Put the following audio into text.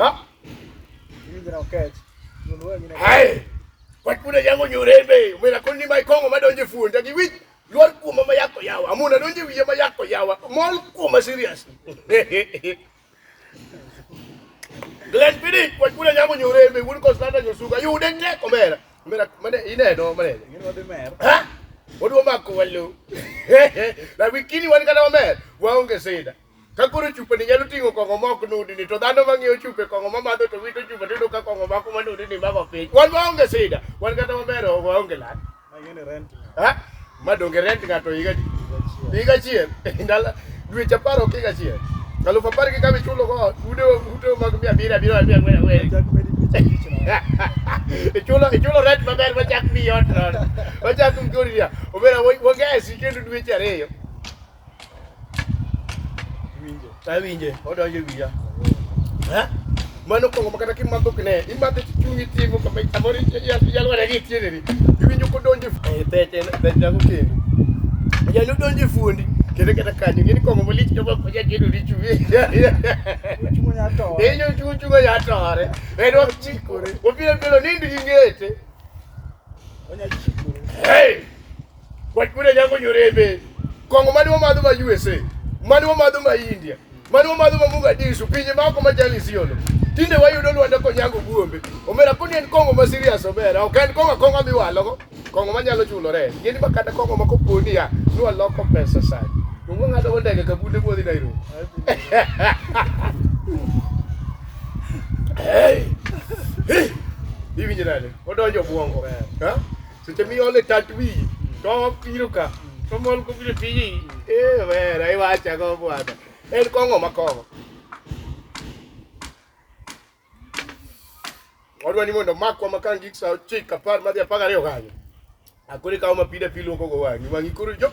Ah. Mimi na uketi. Hai. Kwa kuna jango nyorembe, umena koni mai kongo madonje fuonda gi wich. Lwal kuom mama yako yawa. Amuna donje wiye ma yako yawa. Mol kuom serious. Glen pidi kwa kuna jango nyorembe, wuon Constanta nyosuga. Yude ne komera. Mera mane ineno mane. Ngine wadi mer. Ha? Wadu mako wallo. Na wikini wan kana wamer. Waonge sida. Ka koro chupani nyalo ting'o kong'o ma ok nudni, to dhano ma ng'iewo chupe kong'o ma madho to wito chupa to iyudo ka kong'o mako ma nudni mako piny. Wan waonge sida, wan kata maber waonge lal. Ha? Ma donge rent ng'ato higa di? Higa achiel, ndalo dweche apar ok higa achiel. Alufu apar gi kama ichulo go ude ute mag mia abiriyo abiriyo abiriyo ang'wen ang'wen. Ichulo ichulo rent maber machak miyi ot nono. Machak mgori ya. Obera wagesi kendo dweche ariyo. Winjo. Awinje, odonjo wiya. Ha? Mano kongo makata kimadho kine, imadhe tichungi tivo kama amori yalwara gi tiene ni. Iwinjo kodonjo e peche peche ko kendo. Yalo donjo fundi. Kendo kata kanyo ngini kongo malich to bako ya kendo lichu. Chungo ya to. Eyo chungo chungo ya tore. Edo chikore. Obiro bilo nindi ngete. Onya chikore. Hey! Wach buda nyako nyorembe. Kongo mani wamadho ma USA, mani wamadho ma India, mani wamadho ma Mogadishu, pinje mako ma jali siolo. Tinde wayudo Lwanda konyago buombe. Omera koni en kongo ma serious omera, ok en kongo kongo mi walogo. Kongo manyalo chulo rent. Ngeni ma kata kongo ma koponi ya, ni waloko pesa sana. Kongo ngado go ndege kabunde modhi Nairobi. Hey! Hey! Hivi jirani, odonjo buongo. Ha? Seche miole tat wiyi to obiro ka to mol kobiro tiji ee wera iwacha go bwana en kong'o ma kong'o odwa ni mondo makwa ma kangik sa ochik apar madhi apar gariyo kanyo akore kawo mapida piluoko go wang'i wang'i koro jok